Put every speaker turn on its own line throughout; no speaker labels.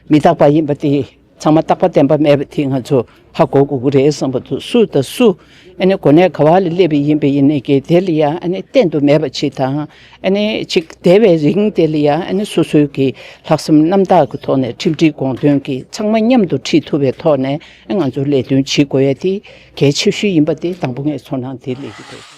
མི་རྟག་པ་ཡིན་པ་དེ་ཚང་མ་རྟག་པ་བདེན་པ་མེད་པ་དེ་ང་ཚོ་ཧ་གོ་དགོས་ཀྱི་རེད་བསམ་པ་འདུག་སུ་དང་སུ་གོ་གནས་ག་བ་ལ་སླེབས་པའི་ཡིན་པ་ཡིན་ནའི་གེ་དེ་ལ་ཡང་བསྟན་དུ་མེད་པ་ཆིག་དང་ཆིག་དེ་བས་རིང་དེ་ལ་ཡང་སོ་སོའི་གི་ལྷག་བསམ་རྣམ་དག་གི་ཐོག་ནས་ཁྲིམས་སྒྲིག་དགོངས་དོན་གི་ཚང་མ་མཉམ་དུ་ཁྲིད་ཐུབ་པའི་ཐོག་ནས་ང་ཚོ་ལས་དོན་བྱེད་དགོས་ཡ་དེ་གལ་ཆེ་ཤོས་ཡིན་པ་དེ་དང་པོ་ངས་ཚོར་སྣང་དེ་ལས་གི་རེད།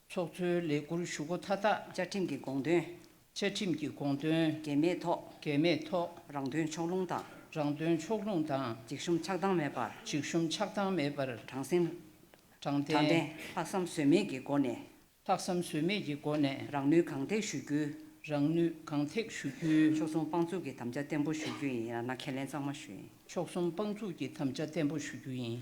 ཚོགས་གཙོའི་ལས་
འཁུར་ཞུ་སྒོ་མཐའ་དག་བཅའ་ཁྲིམས་ཀྱི་དགོངས་དོན།
བཅའ་ཁྲིམས་ཀྱི་
དགོངས་དོན། འགལ་མེད་ཐོག། འགལ་མེད་ཐོག། རང་དོན་ཕྱོགས་
ལྷུང་དང། རང་དོན་ཕྱོགས་
ལྷུང་དང། འཇིགས་ཞུམ་ཆགས་སྡང་མེད་
པར། འཇིགས་ཞུམ་ཆགས་སྡང་མེད་
པར། དྲང་བསྲིང།
དྲང་བདེན། ལྷག་བསམ་ཟོལ་མེད་ཀྱི་སྒོ་ནས། ལྷག་བསམ་ཟོལ་མེད་
ཀྱི་སྒོ་ནས། རང་ནུས་གང་ཐེག་ཞུ་རྒྱུ།
རང་ནུས་གང་
ཐེག་ཞུ་རྒྱུ། ཕྱོགས་མཚུངས་དཔང་བཙུགས་ཀྱི་དམ་བཅའ་
བརྟན་པོ་ཞུ་རྒྱུ་ཡིན། ཡང་ན་ཁས་ལེན་གཙང་མ་ཞུ་ཡིན། ཕྱོགས་མཚུངས་དཔང་བཙུགས་
ཀྱི་དམ་བཅའ་བརྟན་པོ་ཞུ་རྒྱུ་ཡིན།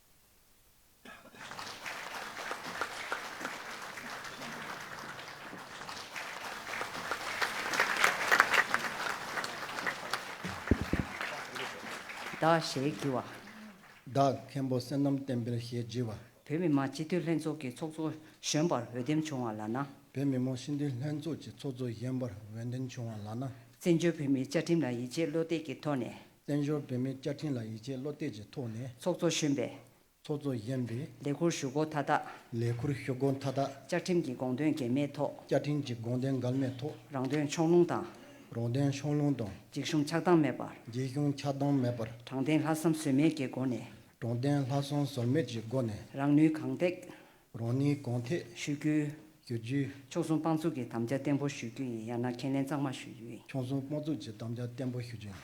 བདག་ཞེས་བགྱི་བ། བདག་
མཁན་པོ་བསོད་ནམས་བསྟན་འཕེལ་ཞེས་བགྱི་བ། བོད་མི་མང་སྤྱི་འཐུས་
ལྷན་ཚོགས་ཀྱི་ཚོགས་གཙོ་གཞོན་པར་འོས་འདེམས་བྱུང་བ་ལགས་ན། བོད་མི་མང་སྤྱི་འཐུས་
ལྷན་ཚོགས་ཀྱི་ཚོགས་གཙོ་གཞོན་པར་འོས་འདེམས་བྱུང་བ་ལགས་ན། བཙན་བྱོལ་བོད་མིའི་
བཅའ་ཁྲིམས་ལ་ཡིད་ཆེས་བློ་གཏད་ཀྱི་ཐོག་ནས། བཙན་བྱོལ་བོད་མིའི་བཅའ་
ཁྲིམས་ལ་ཡིད་ཆེས་བློ་གཏད་ཀྱི་ཐོག་ནས། ཚོགས་གཙོ་གཞོན་པས།
ཚོགས་གཙོ་གཞོན་པས།
ལས་འཁུར་ཞུ་སྒོ་མཐའ་དག།
ལས་འཁུར་ཞུ་སྒོ་
མཐའ་དག། བཅའ་ཁྲིམས་ཀྱི་དགོངས་དོན་འགལ་
མེད་ཐོག། བཅའ་ཁྲིམས་ཀྱི་དགོངས་དོན་འགལ་
མེད་ཐོག། རང་དོན་ཕྱོགས་ལྷུང་
དང། རང་དོན་ཕྱོགས་
ལྷུང་དང། འཇིགས་ཞུམ་ཆགས་སྡང་མེད་
པར། འཇིགས་ཞུམ་ཆགས་སྡང་
མེད་པར། དྲང་བདེན་ལྷག་བསམ་ཟོལ་
མེད་ཀྱི་སྒོ་ནས། དྲང་བདེན་ལྷག་བསམ་
ཟོལ་མེད་ཀྱི་སྒོ་ནས། རང་ནུས་གང་ཐེག།
རང་ཉིད་གང་
ཐད་ཤེས་རྒྱུ་བསྒྱུར་
རྒྱུ། ཕྱོགས་
མཚུངས་དཔང་བཙུགས་ཀྱི་
དམ་བཅའ་བརྟན་པོ་ཞུ་རྒྱུ་ཡིན་ཡང་ན་ཁས་ལེན་གཙང་མ་ཞུ་རྒྱུ་ཡིན། ཕྱོགས་མཚུངས་དཔང་བཙུགས་ཀྱི་དམ་
བཅའ་བརྟན་པོ་ཞུ་རྒྱུ་ཡིན།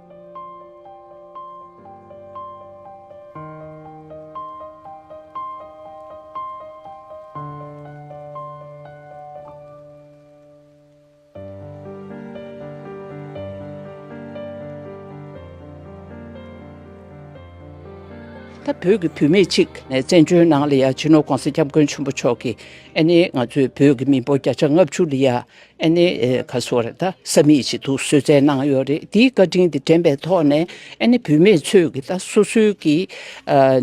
ད་བོད་ཀྱི་བུད་མེད་ཅིག་ནས་བཙན་བྱོལ་ནང་ལི་ཡ་ཇི་ནོ་ཀོང་སི་སྐྱབས་མགོན་ཆེན་པོ་མཆོག་གིས་ཨ་ནི་ང་ཚོའི་བོད་ཀྱི་མི་འབོར་བརྒྱ་ཆ་ལྔ་བཅུ་ལི་ཡ་ཨ་ནེ། ཁ་སོ་རེ་ད་ས་མིག་ཅིག་འདུག་བཟོད་བསྲན་གནང་ཡོད་རེད་འདིའི་བཀའ་དྲིན་དེ་དྲན་པའི་ཐོག་ནས་ཨ་ནེ་བུད་མེད་ཚོས་ཀྱི་ད་སོ་སོའི་ཀྱི་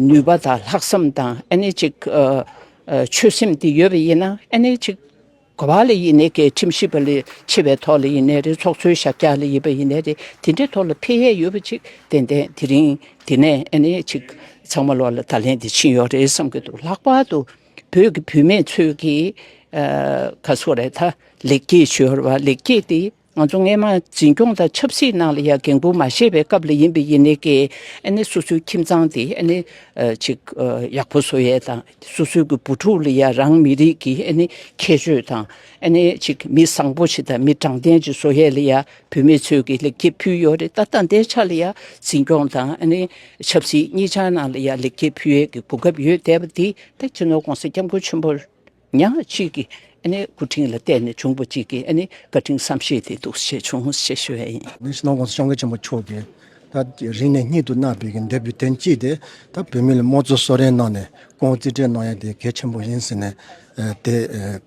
ནུས་པ་དང་ལྷག་བསམ་དང་ཨ་ནེ་ཅིག་ཆོད་སེམས་དེ་ཡོད་པ་ཡིན་ན་ཨ་ནེ་ཅིག་གོ་བ་ལ་ཡིན་ནའི་ཀའི་ཁྲིམས་ཞིབ་པ་ལས་ཆེ་བའི་ཐོག་ལ་ཡིན་ནའི་རེད་ཚོགས་གཙོའི་ཞབས་ཀྱག་ལ་ཡིན་པ་ཡིན་ནའི་རེད་དེ་འདྲའི་ཐོག་ལ་འཕེལ་ཡས་ཡོད་པ་ཅིག་ཏན་ཏན་དེ་རིང་དེ་ནས་ཨ་ནེ་ཅིག་ཚང་མ་ལོག་ལ་ད་ལན་དེ་ཕྱིན་ཡོད་རེད་བསམ་གྱི་འདུག་ལྷག་པར་དུ། བོད་ཀྱི་བུད་མེད་ཚོས་ཀྱིས་ཁ་སོ་རེ་ད་ལེགས་སྐྱེས་ཤོར་བ་ལེགས་སྐྱེས་དེ་ང་ཚོ་རྔན་མ་འཛིན་སྐྱོང་དང་ཆབ་སྲིད་ནང་ལ་ཡང་འགན་ཁུར་མ་ཤེས་པའི་སྐབས་ལ་ཡིན་པས་ཡིན་ནའི་ཀྱེ་ཨ་ནི་སོ་སོའི་ཁྱིམ་ཚང་དེ་ཨ་ནི་ཅིག་ཡག་པོ་བཟོ་ཡས་དང་སོ་སོའི་གྱི་བུ་ཕྲུག་ལ་ཡང་རང་མི་རིགས་ཀྱི་ཨ་ནི་ཁྱད་ཆོས་དང་ཨ་ནི་ཅིག་མི་བཟང་པོ་ཞིག་དང་མི་དྲང་བདེན་ཅིག་བཟོ་ཡས་ལ་ཡང་བུད་མེད་ཚོས་ཀྱི་ལེགས་སྐྱེས་ཕུལ་ཡོད་རེད་ད་ལྟ་འདའི་ཆ་ལ་ཡང་འཛིན་སྐྱོང་དང་ཆབ་སྲིད་གཉིས་ཆ་ནང་ལ་ཡང་ལེགས་སྐྱེས་ཕུལ་ཡས་ཀྱི་གོ་སྐབས་ཡོད་བསྡད་པ་འདི་ད་སྤྱི་ནོར ྋགོང་ས ྋསྐྱབས་མགོན་ཆེན་པོ་ཉག་གཅིག་གི་སྐུ་དྲིན་ལ་བསྟེན་ནས་བྱུང་བ་གཅིག་གི་བཀའ་དྲིན་བསམ་ཤེས་དེ་འདུག་ཞེས་བྱུང་ཞེས་ཞུ་བས་ཡིན། ནས་སྤྱི་ནོར ྋགོང་ས ྋསྐྱབས་མགོན་
ཆེན་པོ་མཆོག་གིས་ད་རིང་ནས་གཉིད་དུ་མནར་བའི་ཀྱི་འདས་པའི་དོན་གཅིག་དེ་ད་བུད་མེད་ལ་དམངས་གཙོ་གསོལ་རས་གནང་ནས ྋགོང་བོ་རྩིས་སྤྲད་གནང་ཡས་དེ་གལ་ཆེན་པོ་ཡིན་ཟེར་ནས་དེ་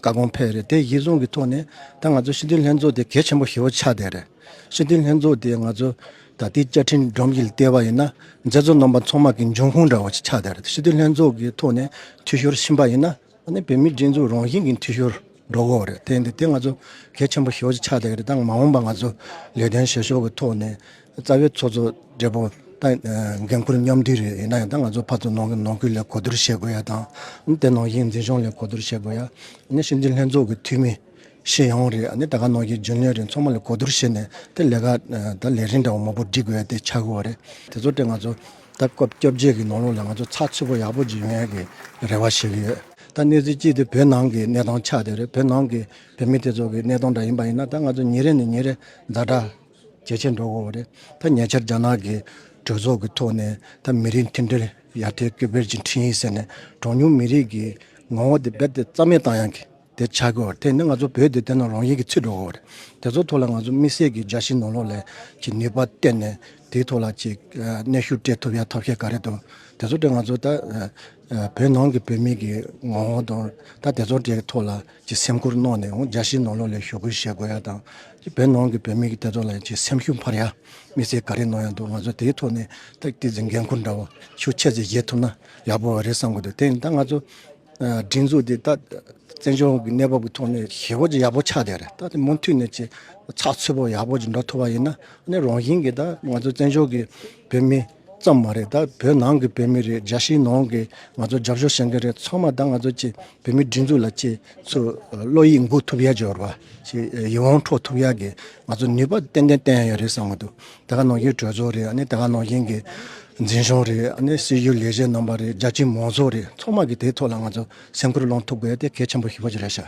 བཀའ་དགོངས་ཕེབས་རེད་དེ་ཡིག་ཟུང་གི་ཐོག་ནས་ད་ང་ཚོ་ཕྱི་དོན་ལྷན་ཚོགས་དེ་གལ་ཆེན་པོ་ཞེ་བོ་ཆགས་བསྡད་རེད། ཕྱི་དོན་ལྷན་ཚོགས་དེ་ང་ཚོ་ད་ལྟའི་བཅའ་ཁྲིམས་སྒྲོམ་གྱི་ལྟེ་བ་ཡིན་ན་མཛད་གཙོ་རྣམ་པ་ཚང་མ་གི་འབྱུང་ཁུངས་འདྲ་བོ་ཞིག་ཆགས་བསྡད་རེད་ཕྱི་དོན་ལྷན་ཚོགས་ཀྱི་ཐོག་ནས་འཐུས་ཤོར་ཕྱིན་པ་ཡིན་ན་ད་ནི་བོད་མིའི་སྒྲིག་འཛུགས་རང་བཞིན་གྱི་འཐུས་ཤོར་འགྲོ་གོ་རེད་དེ་འདི་དེ་ང་ཚོ་གལ་ཆེན་པོ་ཞེ་བོ་ཞིག་ཆགས་བསྡད་རེད་ད་མ་འོངས་པ་ང་ཚོ་ལས་དོན་བྱེད་ཕྱོགས་ཀྱི་ཐོག་ནས་རྩ་བའི་ཚོགས་གཙོ་སྦྲེལ་པོ་དང་འགན་ཁུར་མཉམ་འདུས་རེད་ཡིན་ན་ཡང་ད་ང་ཚོ་ཕར་ཚུར་ནང་ཁུལ་ལས་གོ་བསྡུར་བྱེད་དགོས་ཡ་དང་དེ་ནང་བཞིན་འཛིན་སྐྱོང་ལས་གོ་བསྡུར་བྱེད་དགོས་ཡ་ནས་ཕྱི་འཛིན་ལྷན་ཚོགས་ཀྱི་འཐུས་མི་ཤེས་ཡོང་རེད་ནས་ད་ག་ནང་བཞིན་རྒྱུན་ལས་རེད་ཚང་མ་ལས་གོ་བསྡུར་བྱེད་ནས་དེ་ལས་ཀ་ད་ལས་རིན་འདྲ་བོ་མང་པོ་སྒྲིག་དགོས་ཡ་དེ་ཆགས་ཀྱི་རེད་དེ་ཚོ་དེ་ང་ཚོ་ད་སྐབས་སྐྱོབ་རྗེས་ཀྱི་ནང་ལོག་ལ་ང་ཚོ་ཚགས་ཚུད་པོ་ཡག་པོ་སྒྲིག་ཡོང་ཡ་གི་རེ་བ་བྱེད་ཀྱི་ཡོད་ད་གནས་ཚུལ་གཅིག་དེ་བོད་ནང་གི་གནས་སྟངས་ཆགས་དེ་རེད་བོད་ནང་གི་བོད་མི་དེ་ཚོ་གི་གནས་སྟངས་འདྲ་ཡིན་པ་ཡིན་ན་ད་ང་ཚོ་ཉིན་རེ་ནས་ཉིན་རེ་འཛའ་དྲག་ཇེ་ཆེར་འགྲོ་འོང་བ་རེད། ད་ཉེ་ཆར་རྒྱ་ནག་གི་གྲོས་ཚོགས་ཀྱི་ཐོག་ནས་ད་མི་རིགས་མཐུན་སྒྲིལ་ཡར་ཐོན་སྐུལ་སྤེལ་གྱི་འཕྲིན་ཡིག་ཟེར་ནས་གྲངས་ཉུང་མི་རིགས་ཀྱི་ངོ་བོ་དེ་རྦད་དེ་རྩ་མེད་བཏང་ཡང་གི་དེ་ཆགས་དགོས་བ་རེད་དེ་ནི་ང་ཚོ་བོད་དེ་བལྟས་ན་རང་ཡིག་གི་ཚུད་འགྲོ་འོང་བ་རེད་དེ་ཚོ་ཐོག་ལ་ང་ཚོ་དམིགས་བསལ་གྱི་སྦྱར་ཞིབ་ནོར་ལོག་ལས་ཀྱི་ནུས་པ་བཏོན་ནས་དེའི་ཐོག་ལ་ཅིག་གནས་ཤུགས་སྤྲད་ཐུབ་ཡ་ཐབས་ཤེས་ག་རེ་དང་དེ་ཚོ་དེ་ང་ཚོ་ད་བོད་ནང་གི་བོད་མི་གི་ངོ་བོ་དང་ད་དེ་ཚོ་དེ་ཐོག་ལ་ཀྱི་སེམས་ཁུར་གནང་ནས་འོང་རྒྱ་ཕྱིའི་ནང་ལོགས་ལས་ཞོག་ཁུལ་བཤད་དགོས་ཡ་དང། བོད་ནང་གི་བོད་མི་གི་བདེ་དོག་ལ་ཡང་ཆེས་སེམས་ཤུགས་འཕར་ཡ། མི་ཚེ་ག་རེ་གནང་ཡ་འདུག་ང་ཚོ་དེའི་ཐོག་ནས་ཐུགས་རྗེ་ཆེ་འགན་ཁུར་འདྲ་བོ་ཤུགས་ཆེ་ཆེ་བཞེས་ཐུབ་ན་ཡག་པོ་བ་རེད་བསམ་གི་འདུག་དེ་ཡིན་ད་ང་ཚོ་སྒྲིག་འཛུགས་དེ་ད་བཙན་བྱོལ་གི་གནས་བབ་ཀྱི་ཐོག་ནས་ཞེ་བོ་ཅིག་ཡག་པོ་ཆགས་བསྡད་རེད་ད་དེ་མུ་མཐུད་ནས་ཆེ་ཚགས་ཚུད་པོ་ཡག་པོ་ཅིག་འགྲོ་ཐུབ་པ་ཡིན་ན་ནི་རང་བཞིན་གི་ད་ང་ཚོ་བཙན་བྱོལ་གི་བོད་མི། ཙམ་མ་རེད་ད་བོད་ནང་གི་བོད་མི་རེད་རྒྱ་གཞིས་ནང་གི་ང་ཚོ་རྒྱབ་སྐྱོར་བྱེད་མཁན་རེད་ཚང་མ་ད་ང་ཚོ་བཅས་བོད་མི་སྒྲིག་འཛུགས་ལ་བཅས་ཚོས་བློ་ཡིད་མགུ་ཐུབ་ཡ་འགྱོར་བ་ཞིག་ཡིད་དབང་འཕྲོག་ཐུབ་ཡ་གི་ང་ཚོ་ནུས་པ་ཏན་ཏན་བསྟན་ཡ་རེད་བསམ་གི་འདུག་དེ་ག་ནང་བཞིན་གྲོས་ཚོགས་རེད་ནི་དེ་ག་ནང་བཞིན་གི་འཛིན་སྐྱོང་རེད་ནི་སྲིད་ཇུས་ལས་བྱེད་རྣམ་པ་རེད་རྒྱ་གཞིས་མང་ཚོགས་རེད་ཚང་མ་གི་དེ་ཐོག་ལ་ང་ཚོ་སེམས་ཁུར་བླང་ཐུབ་དགོས་ཡ་དེ་གལ་ཆེན་པོ་ཞིག་རེད་ཤག།